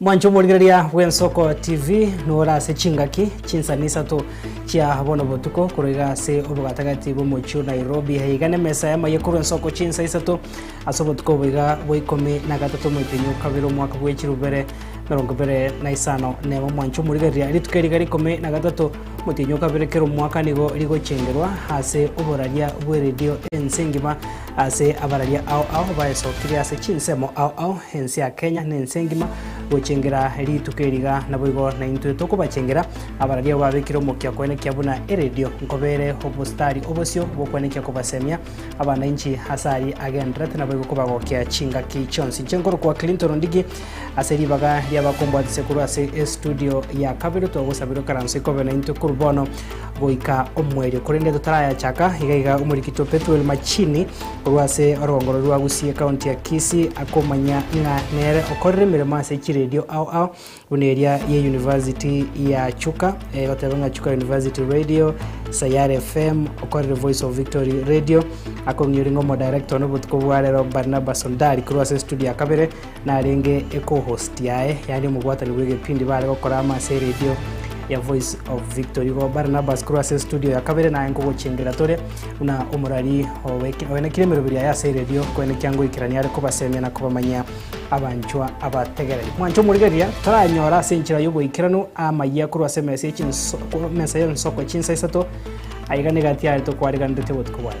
Mwanche omorigereria bw'Ensoko TV nore ase chingaki chinsani isato chia bono botuko korwa iga ase obogatagati bw'omochie o Nairobi. Iga nemesa y'amaye korwa Ensoko chinsa isato ase obotuko obo iga bwa ikomi na gatato omwegenyi o kabere omwaka bwa echiru bibere merongo ibere na isano nemo. Mwanche omorigereria rituko eri iga rikumi na gatato omwegenyi o kabere kera omwaka nigo rigochengerwa ase oboraria bw'eredio ense engima Ase abararia ao ao baesokirie ase chinsemo ao ao, ense ya Kenya na ense engima, gochengera rituko eri iga. Naboigo naintwe tokobachengera abararia abo babekire omokia koenekia buna eredio, nkobeere obostari obosio bw'okoenekia kobasemia abana inchi ase aria agendererete naboigo kobagokia chingaki chionsi inche nkorokwa Clinton Ndigi. Ase ribaga ri'abakombwatisia korwa ase estudio ya kabere togosabera okaranse kobe naintwe korwa bono goika omwerio. Korende totarayachaka, iga iga omorikito Pethuel Machini korwa ase orogongoro rwa Gusii ekaunti ya Kisii akomanya ng'a nere okorire emeremo ase chiredio ao ao buna eria ye University ya Chuka, egoteba ng'a Chuka University Radio, Sayare FM, okorire Voice of Victory Radio, akong'ioria ng'a omodirector one obotuko bwa rero Barnabas Ondari korwa ase estudio ya kabere Narenge ecohost yaye, yaani omobwatani bw'egepindi baare gokora amo ase eredio ya Voice of Victory. Igo Barnabas korwa ase estudio ya kabere naye nkogochengerera tore buna omorari owe- oenekire emeroberi yaye ase eredio, koende kiangoikerania are kobasemia na kobamanyia abanchwa abategereri. Mwanche omorigereria, toranyora ase enchera y'oboikeranu amayia korwa ase emesa ye chinso- korwa emesa y'ensoko chinsa isato, aiga nigo atiarete okwareganeretie obotuko bwaye.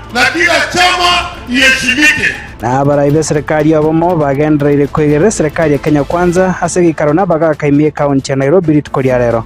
Na kila chama iheshimike. Na abarai b'eserekari y'obomo bagendereire kwegerera eserekari ya Kenya Kwanza ase egeikaro na abagaaka ime y'ekaunti ya Nairobi rituko ria rero.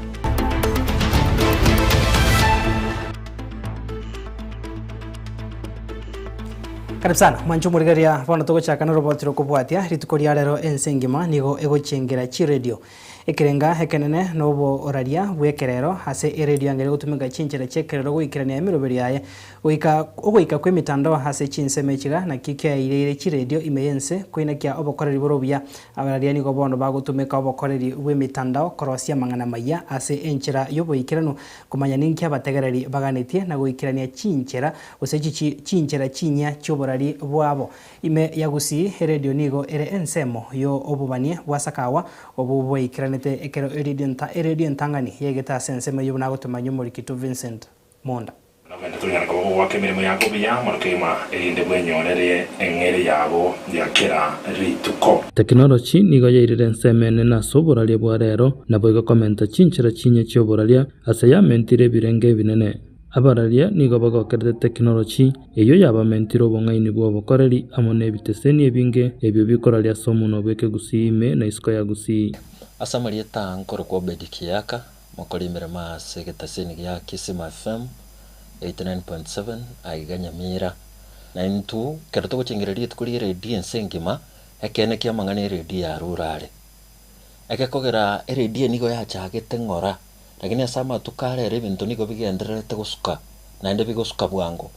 Karibu sana mwancho omorigereria, bono togochaka noroboti rokobwatia rituko ria rero. Ense engima nigo egochiengera chiredio Ekerenga ekenene noboraria bw'ekerero ase eredio angere gotumeka chinchera chi'ekerero goikerania emeroberio yaye. Goika ogoika kw'emitandao ase chinsemo echiga nakio kiaireire chiredio ime y'ense koinakia obokoreri bore obuya. Abararia nigo bono bagotumeka obokoreri bw'emitandao korosia amang'ana amaya ase enchera y'oboikeranu, komanya ninki abategereri baganetie, na goikerania chinchera gose chinchera chinyia chi'oborari bwabo. Ime ya Gusii, eredio nigo ere ensemo yo obobanie bwa sakawa obwo bwaikaranete ekero eredio nta eredio entang'ani yaigete ase ensemo eyio buna agotomanyia Omorikito Vincent Munda. Nogende tonyare koba gogoaka emeremo yago buya moro keima erinde bwenyorere eng'eria yabo ya kera rituko. Tekinoloji nigo yairire ensemo enene ase oboraria bwa reero, naboigo komenta chinchera chiinye chi'oboraria ase yamentire ebirengo ebinene. Abararia nigo bagokerete tekinoloji eyio yabamentire obong'aini bw'obokoreri amo n'ebiteseni ebinge ebio bikoraria ase omuna bw'ekegusii ime na isiko ya gusii. Ase amarieta aa nkorokwa Obedi Kiyaka, mokori emeremo aase egeteseni gia Kisima FM 89.7 aiga Nyamira. Na intwo ekero togochengera rituko ri'eredio ense engima, ekeene ki'amang'ana eredio yarure are. Egekogera eredio nigo yachagete ng'ora. Lakini ase amatuko ara ere ebinto nigo bigendererete gosuka, naende bigosuka bwango.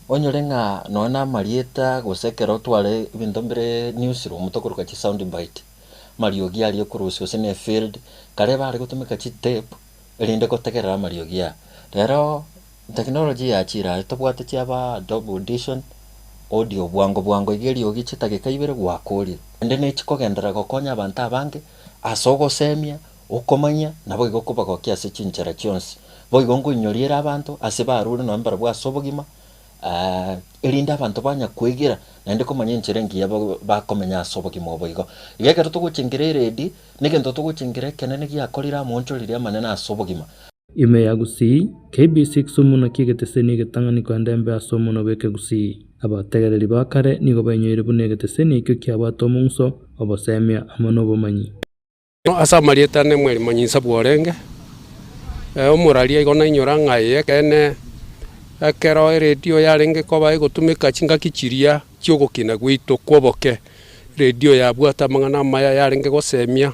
Onyore ng'a nonya namarieta gose ekero tware ebinto mbire newsroom tokoruga chi sound bite, amariogi aria okorusia gose ne field, kare bare gotumeka chi tape erinde gotegerera amariogi aya. Rero technology yachire aye tobwate chiaba Adobe Audition, audio bwango bwango iga eriogi chidageka ibere gwakoria. Naende nechikogenderera gokonya abanto abange ase ogosemia Okomanya, naboigo kobagokia ase chinchera chionsi, boigo ngoinyoriere abanto ase baarure nonya mbarabwo ase obogima, eeh, erinde abanto banya kwegera naende komanya enchera engiya bakomenya ase obogima obo igo. Iga ekero togochengera eredi, negento togochengera ekenene giakorire amoonchoreria amanene ase obogima. Ime ya Gusii, KBC Kisumu naki egeteseni egetang'ani koenda embe ase omonwa bw'Ekegusii. Abategereri ba kare nigo bainyoire buna egeteseni ekio kiabwate omong'uso, obosemia, amo nobomanyi. Ase amarieta ane mwerimo nyinsa bworenge, omoraria igo nainyora ng'a eye ekeene. Ekero eredio yarenge koba egotumeka chingaki chiria chi'ogokina gwaito kw'oboke, eredio yabwate amang'ana amaya yarenge gosemia.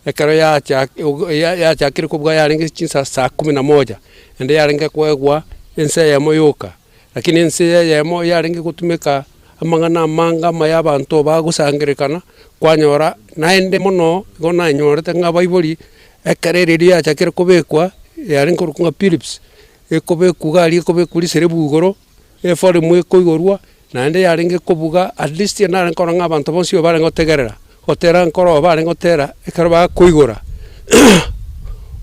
Ekero yachakire kobua yarenge chinsa saa kumi na moja, naende yarenge koegwa ense eyemo yoka. Lakini ense eyemo yarenge gotumeka amang'ana amange ama y'abanto baa gosangererekana, kwanyora naende mono igo nanyorete ng'a Baibori, ekero ere erio yachakire kobekwa, yarenge korokwa ng'a Philips, ekobekwa iga aria ekobekwa riserebu igoro, eforemu ekoigorwa, naende yarenge kobuga at least narenge korora ng'a abanto bonsi oyo barenge gotegerera, gotera nkoro oyo barenge gotera ekero bakoigora,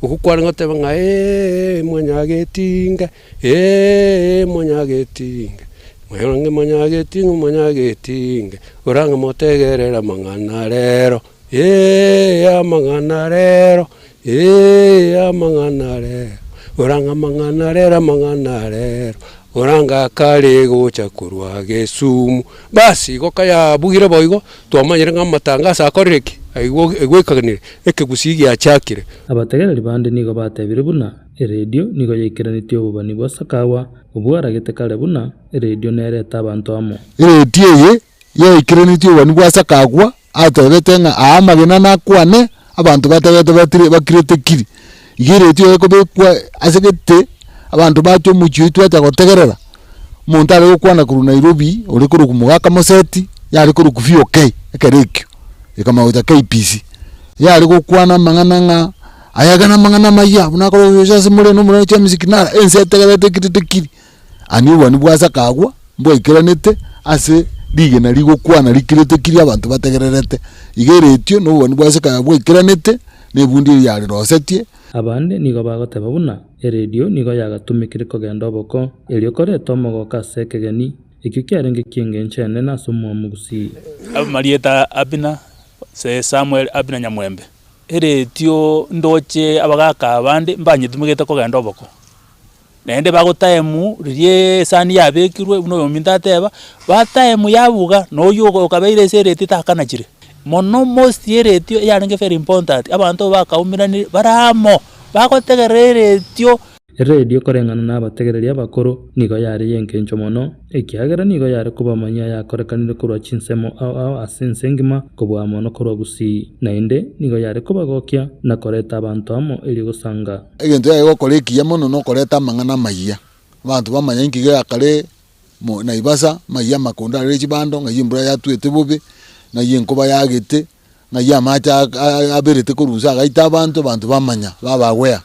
okwo kwarenge goteba ng'a eeeee mwanyagetinga. Ee, monyagetinge, monyagetinge, monyagetinge, orange motegerere amang'ana a reero, ee, amang'ana a reero, ee, amang'ana a reero, orange amang'ana a reero, amang'ana a reero, orange akare gocha korwa gesumu. Basi igo kayabugire boigo, twamanyire ng'a amatangaso akorire ki? Aigwe, aigwekaganire, ekegusii giachiakire. Abategereri bande nigo batebire buna Eredio nigo yaikeranetie obobani bwa Sakawa, obwo aragete kare buna, Eredio nerete abanto amo. Eredio eye yaikeranetie obobani bwa Sakagwa atebete ng'a aa amagena nakwane, abanto batagete batire bakirete kiri. Iga eredio eye ekobekwa ase gete, abanto bache omochie oito bacha gotegerera, omonto are gokwana korwa Nairobi, ore korwa Okumugaka aka Moseti, yare korwa Kuffi okay, ekero ekio, ekamanya gocha KBC. Yare gokwana amang'ana ng'a. Ayagane amang'ana amayia, buna akore oyio ase more na omorwoti wa Misikinara, ense etegerete ekiritikiri. Ani obwani bwa Asaka agwo mbwaikeranete ase rigena rigokwana rikiritikiri abanto bategererete, iga eretio, na obwani bwa Asaka bwaikeranete nebundi eria yarerosetie, Abande nigo bagoteba buna eredio nigo yagatumekire kogenda oboko, erio koreta omogooko ase ekegeni, ekio kiarenge ki'engencho enene ase omwamu gusii. Amarieta a Abina, Samuel Abina nyamwembe. eretio ndoche abagaka aba bande mbanyetumegete kogenda oboko. Naende bago time riria esani yabekirwe buna oyominto ateba, ba time yabuga na oyio okabeire ase eretio takanachire. Mono most eretio eyarenge very important abanto bakaumera bare amo bagotegerera eretio. Eredio koreng'ana nabategereri abakoro nigo yare y'engencho mono, ekiagera nigo yare koba amanyia ayakorekanire korwa chinsemo ao ao ase ense engima kobua mono korwa gusii, naende nigo yare kobagokia na koreta abanto amo erio gosanga. Egento yaye gokora ekiya mono nokoreta amang'ana amayia, abanto bamanya inki geakare mo Naivasa, ng'ai amakondo arere chibando, ng'ai embura yatuete bobe, ng'ai enkoba yagete, ng'ai amache aberete korwa inse agaita abanto, abanto bamanya, babagwea.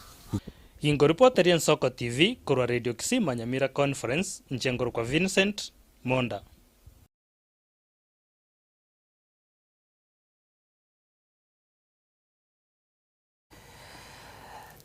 Inkoripota ria Nsoko TV korwa Radio Kisii Manyamira Conference, inche nkorokwa Vincent Monda.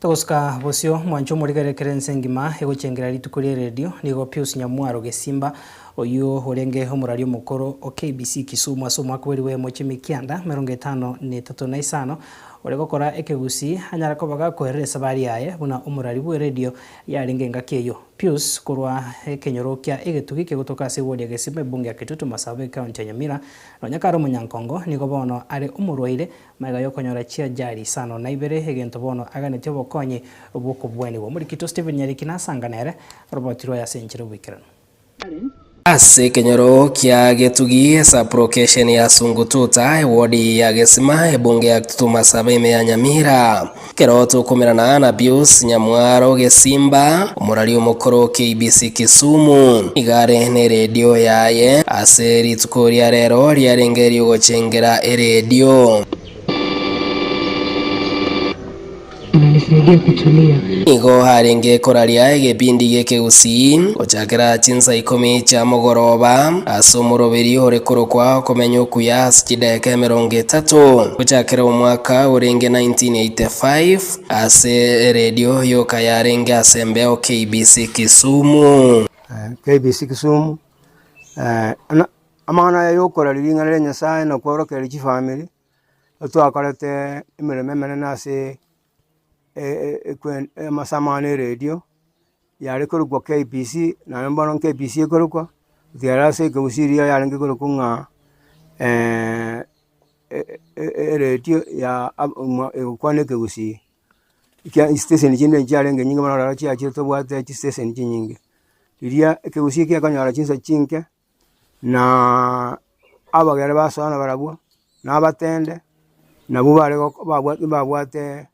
Togosuka bosio, mwancho omorigererekere ense engima egochengera rituko ria eredio nigo Pius Nyamwaro Gesimba oyio orenge omorari omokoro o KBC Kisumu ase omwaka bwerigwe emochie mikianda merongo etano na etato na isano Ore gokora ekegusii anyare koba gakoerera esabari yaye buna omorari bw'eredio yarenge engaki eyio. Pius korwa ekenyoro kia egetugi kegotoka ase wodi ya Gesima ebunge ya Kitutu Marsabit County ya Nyamira nonya kare omonyankongo nigo bono are omorwaire magega yokonyora chiajali isano na ibere egento bono aganeti obokonyi bw'okobwanigwa. Omorikito Stephen Nyariki nasanga nere oroboti rwaye ase enchera y'oboikeranu. Ase ekenyoro kia Getugi, Sublocation ya Sungututa, Ewodi ya Gesima, Ebunge ya Tutuma Saba ime ya Nyamira. Ekero tokomerana na Pius Nyamwaro Gesimba, omorari omokoro KBC Kisumu, nigo are neredio yaye ase rituko ria rero riarenge eriogochengera eredio. Nigo arenge koraria egebindi gi'ekegusii gochakera chinsa ikomi chia mogoroba, ase omoroberi ore korokwa Okomenya Okuya ase chidaeka emerongo etato, gochakera omwaka orenge 1985, ase eredio yoka yarenge ase embeo KBC Kisumu. KBC Kisumu, amang'ana aya yokorari ring'ana ria Nyasaye nakworokereria chifamiri. Twakorete emeremo emenene ase e- e- ekwen amasamo ane eredio, yare korokwa KBC, naende bono KBC ekorokwa, ekiagera ase ekegusii eria yarenge korokwa ng'a e- e- e- eredio ya ab- omwa egokwana ekegusii. Ekia esteseni chinde nchiarenge nyinge bono ororo chiachire tobwate chisiteseni chinyinge. Eria ekegusii kiakonyora chinsa chinke. na abageni ba Sara barabwo, na abatende, nabwo bare gok babwa mbabwate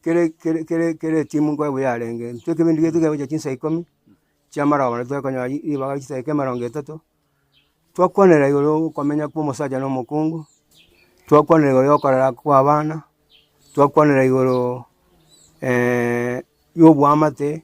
kere kere kere kere etimu nkonya buya yarenge, intwe ekebindi giaito kiagocha chinsa ikomi chia amaroba naende tokonyora ri ribaga chinsa eke emerongo etato, twakwanera igoro okomenya kwa omosacha na omokungu, twakwanera igoro ya okorera kwa abana, twakwanera igoro ya oboamate,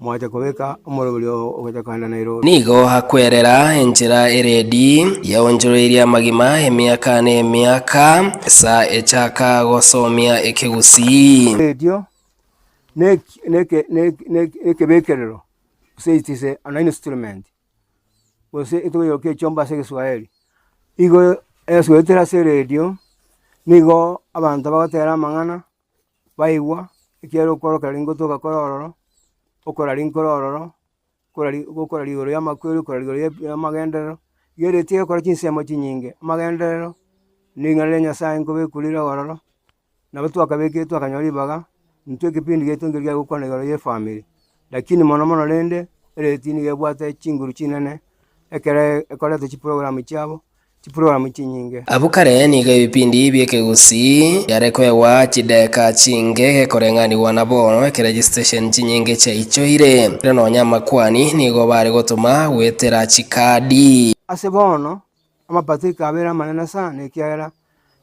Moache kobeka omorwori oo ogocha kanda na irooro. Nigo akwerera enchera eredi yaonchoreirie amagima emiaka nemiaka, sa echaka gosomia ekegusii. Erio neke nekebekerero gose echise an instrument gose etugo yoka echomba ase egeswaeri igo esuetere ase eredio nigo abanto bagotera amang'ana. baigwa ekiagera okorokera ringotoka kore ororo, okora rinkoro ororo, okora ri gokora rigoro ri'amakweri, okora rigoro ria ri'amagenderero, riria riria tigekora chinsemo chinyinge. Amagenderero, ring'ana ria Nyasaye nkobekwa rire ororo, nabo twakabekire twakanyora ribaga, intwe ekepindi giaito nkeri giagokwana igoro y'efamiri. Lakini mono mono rende eredii nigo ebwate chinguru chinene, ekero ekorete chiprogramu chiabo, chiprogramu chinyinge. Abwo kare nigo ebipindi bi'ekegusii biare koegwa chideeka chinge gekoreng'anigwa nabo ekero chisitesheni chinyinge chiaichoire, erio nonya amakuani nigo bare gotoma goetera chikaadi. Ase bono, Amapato ekabera amanene sana, ekiagera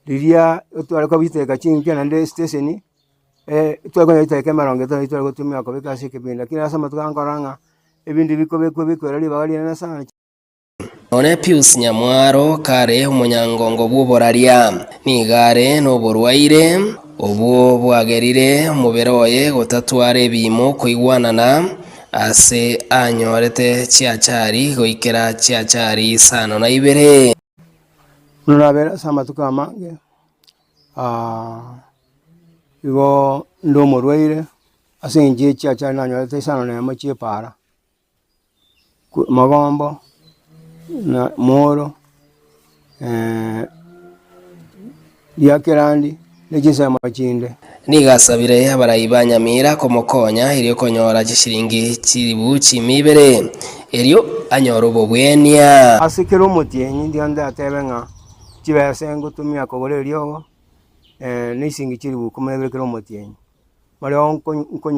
riria tware kobiteka chinkia naende esiteseni, tware konya goiteka emerongo etano eria tware gotumia kobeka ase ekebinda. Lakini ase amatuko aya nkorora ng'a ebinto ebi bikobekwa bikobekwa ere ribaga rinene sana. Nonye Pius Nyamwaro kare omonyangongo bw'oboraria, nigo are noborwaire obwo bwagerire omobere oye gotatwara ebiimo koigwanana, Ase anyorete chiachari goikera chiachari isano na ibere. Buna nabeire ase amatuko amange, igo inde omorwaire, ase eng'encho ye chiachari nanyorete isano na emo chia epaara, ko- magombo, na mooro. biakerandi, ne chinsemo chinde. Nigo asabire abarai ba Nyamira komokonya erio konyora chisiringi chilifu chiimia ibere, erio anyore obobwenia. Ase kera omotienyi ndionde atebe ng'a chibesa engotumia kogora eriogo, ee, nisiringi chilifu ikomi na ibere kera omotienyi. Bareo nko- nko-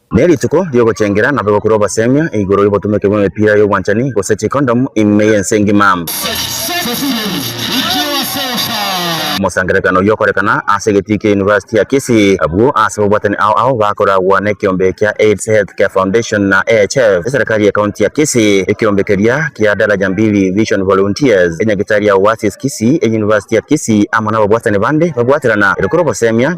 Ne rituko riogochengera nabo egokurwa obosemiyo igoro yobotumeke bw'emepira y'obwanchani gose chikondomu ime y'ense engima. Omosangererekano oyio okorekana ase egetii kia University ya Kisii. Abwo ase ababwatani ao ao bakoragwa nekeombe kia Aids Health Care Foundation na AHF, eserekari ye county ya Kisii, ekeombe keria kia Daraja Mbili Vision Volunteers, enyagitari ya Oasis Kisii, eUniversity ya Kisii amo nababwatani bande babwaterana egokurwa obosemiyo.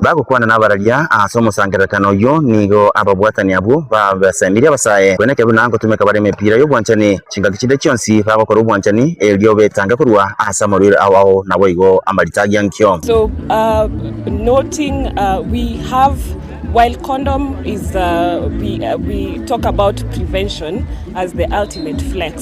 Bagokwana nabararia ase omosangererekano oyio nigo ababwatani abwo babasemirie abasae. Kwene ekiagera nangotumeka bare emepira y'obwanchani chingaki chinde chionsi, bagokora obwanchani, erio betange korwa ase amarwaire ao ao naboigo amarita agiya nkio. So noting we have while condom is we talk about prevention as the ultimate flex.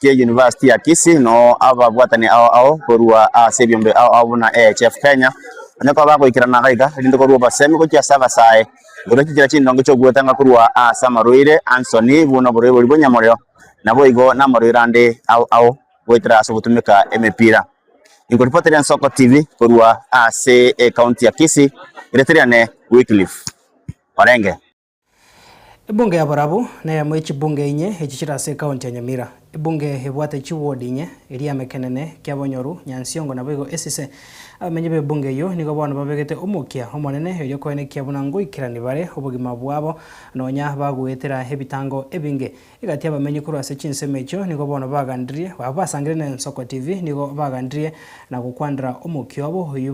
gie University ya Kisii no ababwatani ao ao korwa ase ebiombe ao ao buna AHF Kenya onye kwa bagoikerana gaiga erinde korwa obosemi gochia ase abasae igoro chinchera chindonge chi'ogwetanga korwa ase amarwaire ansoni buna oborwaire bwa nyamoreo naboigo namarwaire ande ao ao goetera ase ogotumeka emepira. Inkoripoteria Nsoko TV korwa ase ecounty ya Kisii, riretiriane Wycliffe Orenge. Ebunge yabarabwo neyemo yechibunge inye echi chire ase ekaunti ya Nyamira. Ebunge ebwate chiwodi inye, eria Emekenene, Kiabonyoru, Nyansiongo naboigo Esise. Abamenyi b'ebunge eyio nigo bono babegete omokia omonene erio koenekia buna ngoikerani bare obogima bwabo nonya bagoetera ebitango ebinge. Egati y'abamenyi korwa ase chinsemo echio nigo bono bagandirie, abwo basangire na Ensoko TV nigo bagandirie na gokwandera omokia obo oyio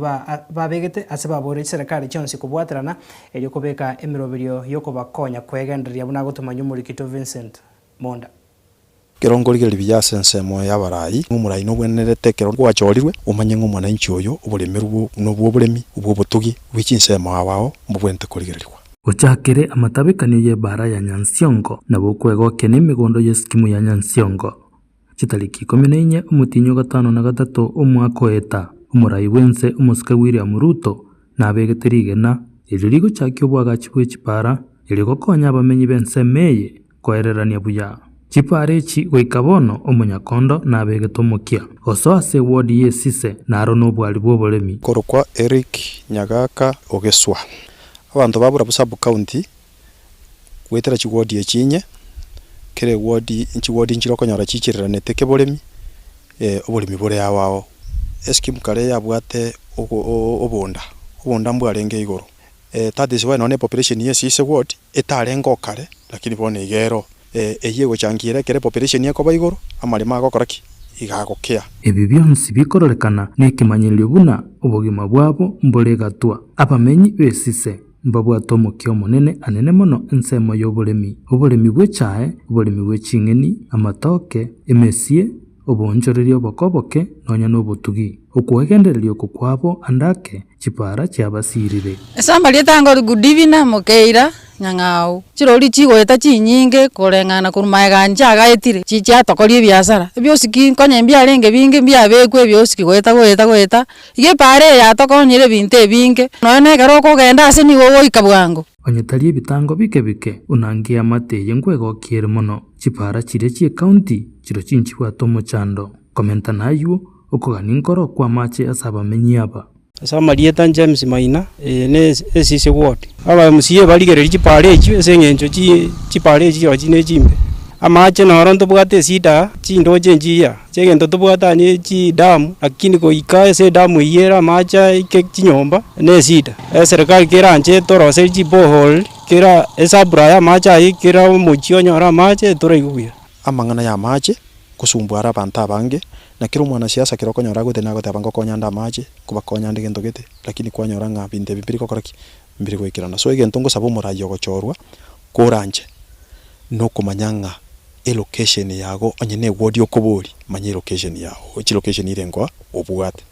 babegete ase baboorire chiserekari chionsi kobwaterana, erio kobeka emeroberio y'okobakonya kwegendereria buna agotoma ny'Omorikito Vincent Monda. Ekero nkorigereria buya ase ensemo y'abarai, ng'a omorai nogwenerete ekero gwachorirwe, omanye ng'a omwananchi oyo oboremerwe buna obw'oboremi, obw'obotugi bwe chinsemo ao ao mbobwenerete korigererigwa. Gochakere amatabekanio y'ebaara ya Nyansiongo na bokwegokia nemegondo y'eskimu ya Nyansiongo, chitariki ikomi na inye omotienyi o gatano na gatato omwaka oeta, omorai bw'ense omosike William Ruto nabegete rigena erio rigochakia obwagachi bwe chibaara eriogokonya abamenyi b'ensemo eye. koererania buya. Chipaara echi goika bono omonyakondo nabegete omokia osoa ase ewodi y'esise na aro nobwari bw'oboremi. Korokwa Eric Nyagaka Ogeswa. Abanto babura bo sub county goetera chiwodi echi inye, kera ewodi chiwodi nchire okonyora chiichereranete keboremi, oboremi bore ao ao. Escheme kare yabwate oboonda, oboonda mbwarenge igoro, Eh, that is why nonya population ye sisi ward etarengeo kare, lakini bono iga ero. Eh, eyio egochangia ere ekero population ekoba igoro, amaremo agokora ki? Iga agokea. Ebi bionsi bikororekana nekemanyererio buna obogima bwabo mbore egatwa. Abamenyi b'esise mbabwate omokia omonene anene mono ensemo y'oboremi, oboremi bw'echae, oboremi bwe ching'eni, amatoke, emesie, oboonchoreria oboko oboke, nonya nobotugi. Okwegendereria oko kwabo ande ake chipaara chiabasiirire. Ase amarieta anga ori Goodeviner, Mokeira, Nyang'au. Chirori chigoeta chinyinge koreng'ana korwa maegani chiagaetire, chiatokoria ebiasara. Ebiosiki nkonye mbiarenge binge mbiabekwa ebiosiki goeta goeta goeta. Iga epaara eye yatokonyire ebinto ebinge. Nonya nekero okogenda ase nigo ogoika bwango. Onye tari ebitango bike bike, buna nkiamate eye nkwegokia ere mono, chipaara chiria chi'ekaunti chiro chinchibwate omochando, komentana ayuo, okogania nkoro kw'amache ase abamenyi aba. Ase amarieta, James Maina, eye ne Esisi Ward. Aba MCA barigereria chipaara echio ase eng'encho chipaara echio chirochio nechimbe. Amache noro ntobwate echida chindooche enchii aa. Chegento tobwate aye chidamu, lakini goika ase edamu eyio ere amache aike chinyomba nesida. Eserikari kera nche etoroserie chiborehole, kera esaburai y'amache ayio, kera omochie onyore amache etoraigwe buya. Amang'ana y'amache, ngosumbwa are abanto abange, na kera omwanasiasa ekero okonyora agwete nagoteba ngokonya nde amache, nkobakonya nde gento gete, lakini kwanyora ng'a binto ebi mbiri gokora ki? Mbiri goikerana. So egento ngosaba omorai ogochorwa kore anche, nokomanya ng'a. E location yago onye ne ward okobori manya elocation yago chi location ire ngoa obwate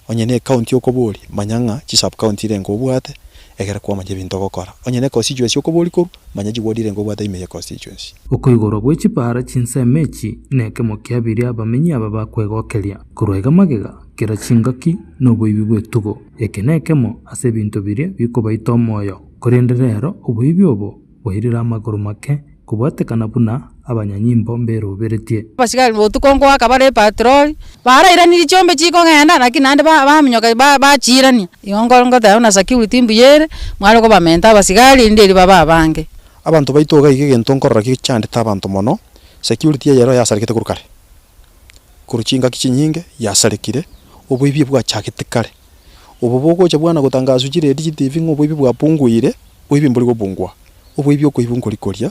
onye ne county okobori manya ng'a chi sub county ire ngoa obwate egere kwamanya ebinto ogokora onye ne constituency okobori korwa manya chi ward ire ngoa obwate ime ye constituency. Okoigorwa gwe chipara chinsemo echi nekemo kia biria abamenyi aba bakwegokeria. Korwa iga magega, kera chingaki noboibi bwetugo. Eke nekemo ase ebinto biria bikobaita omoyo, korende rero oboibi obo Boirire amakoro make, kobwatekana buna abanyanyimbo mberoberetie. Abasigari botuko ngoaka bare epatroli. Barairaniri chiombe chikogenda, naki naende baminyoka bachiirania. Igo ngoteba buna security mbuya ere, mware kobamenta abasigari, erinde erio babe abange. Abanto baito iga iga egento nkorora ki chiandete abanto mono, security eyerore yasarekete korwa kare. korwa chingaki chinyinge yasarekire, oboibio bwachagete kare. Obo bogocha bwana gotangaswa chiredio, chitibi ng'a oboibio bwapunguire, boibio mbori gopungua. Oboibio okoibwa nkori koria,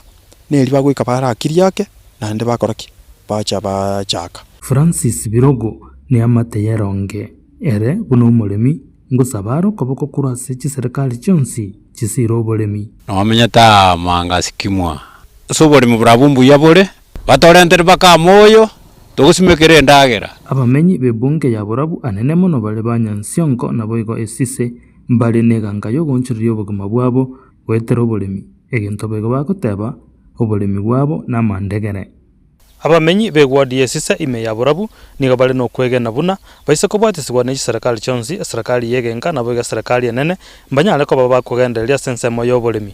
neri bagoika barakirie ake, naende bakora ki? Bacha bachaka. Francis Birogo, Neamate y'eronge, ere buna omoremi, ngosaba are okoboko korwa ase chiserekari chionsi chisiire oboremi. Nomenyete aa manga sikimwa. Ase oboremi borabwo mbuya bore, Batorentere mpaka amo oyo togosimekera endagera. Abamenyi b'ebunge ya borabu anene mono bare ba nyansiongo naboigo esise, mbare n'eganka y'ogoonchoreria obogima bwabo goetera oboremi, egento boigo bagoteba, Oboremi bwabo namandegere. Abamenyi b'egwadi y'esise ime ya borabu nigo bare nokwegena buna baise kobwatisigwa ne chiserekari chionsi, eserekari y'egenka naboigo eserekari enene, mbanyare koba bakogendereria ase ensemo y'oboremi.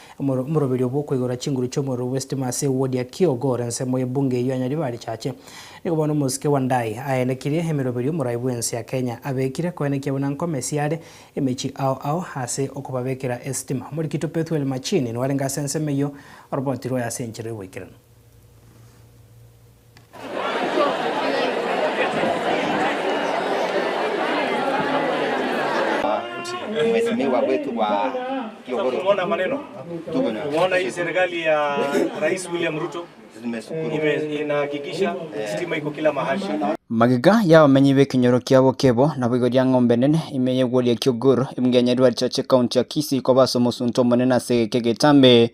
Omoro, omoroberio bw'okoigora chinguru chi'omorero bw'esitima ase ewodi ya Kyogo ore ensemo y'ebunge eyio ya Nyaribarichache. Nigo bono omosike wa Ndai aenekirie emeroberio omorai bw'ense ya Kenya abekire koenekia buna nkomesi are emechie ao ao ase okobabekera esitima. Omorikito Pethuel Machini nwarenge ase ensemo eyio, oroboti rwaye ase enchera y'oboikeranu. Magega y'abamenyi b'ekenyoro kia Bokebo naboigo ria Ng'ombe Nene, ime y'egworia kia Ogur, emengo ya Nyarwarichache, County ya Kisii, koba ase omosunte omonene ase egeka egetambe.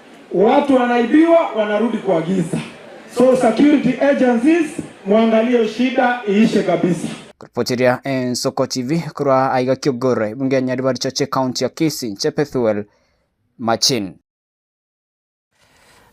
Watu wanaibiwa wanarudi kwa giza so security agencies muangalie shida iishe kabisa. Koripotiria Ensoko TV korwa aiga Kiogora, ebunge ya Nyaribarichoche ekaunti ya Kisii, inche Pethuel Machin.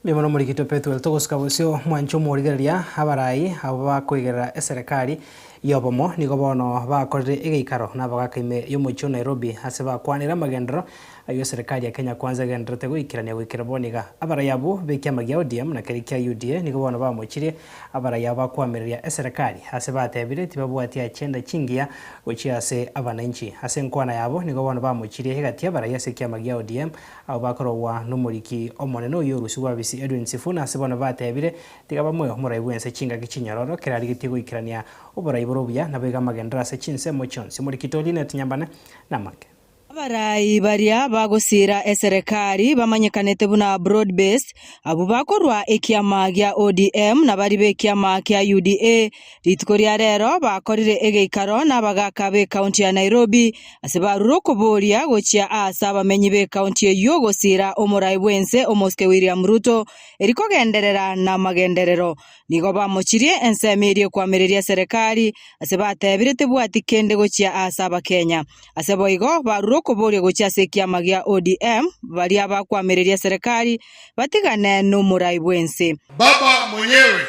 Mbuya mono Omorikitwe Pethuel, togosuka bosio mwanche omorigereria, abarai abwo bakoigerera eserekari y'obomo nigo bono bakorire egeikaro nabagaka ime y'omochie o Nairobi ase bakwanire amagenderero Ayio serikali ya Kenya Kwanza egendererete goikerania goikera bono iga. Abarai abwo b'ekiama gia ODM na keria kia UDA nigo bono bamochirie abarai abo bakoamereria eserekari ase batebire tibabwati achenda chingiya gochia ase abananchi. Ase enkwana yabo nigo bono bamochirie egati abarai ase ekiama gia ODM abwo bakorogwa nomoriki omonene oyio orusi bwabisi Edwin Sifuna ase bono batebire tiga bamoe omorai bw'ense chingaki chinyororo kera arigetie goikerania oborai bore obuya naboiga amagenderero ase chinsemo chionsi. Omoriki Tolinet Nyambane namake. Abarai baria bagosiira eserekari bamanyekanete buna broad based, abwo bakorwa ekiama gia ODM na bari b'ekiama kia UDA, rituko ria rero bakorire egeikaro n'abagaaka b'ekaunti ya Nairobi ase barure okoboria gochia aase abamenyi b'ekaunti eyio gosiira omorai bw'ense omosike William Ruto, eri kogenderera namagenderero Nigo bamochirie ensemo eria ekoamereria Serekari, ase batebire tebwati kende gochia aase abakenya. Ase boigo barure okoboria gochia ase ekiama gia ODM, baria bakoamereria Serekari batigane nomorai bwense. Baba mwenyewe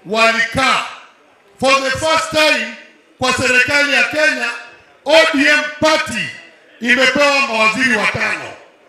walikaa for the first time kwa serikali ya Kenya, ODM party imepewa mawaziri watano.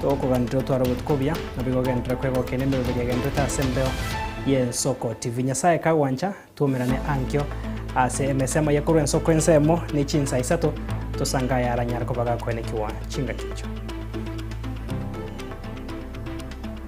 Tokoganterwa otware obotuko obuya, nabo igo ogenderere kwegokia nemebere egentete ase embeo y'ensoko. TV Nyasae kagwancha, twoumerane ankio ase emesemo eye korwa ensoko ensemo ne chinsa isato, tosange ayaranyare koba gakoenekigwa chingaki echo.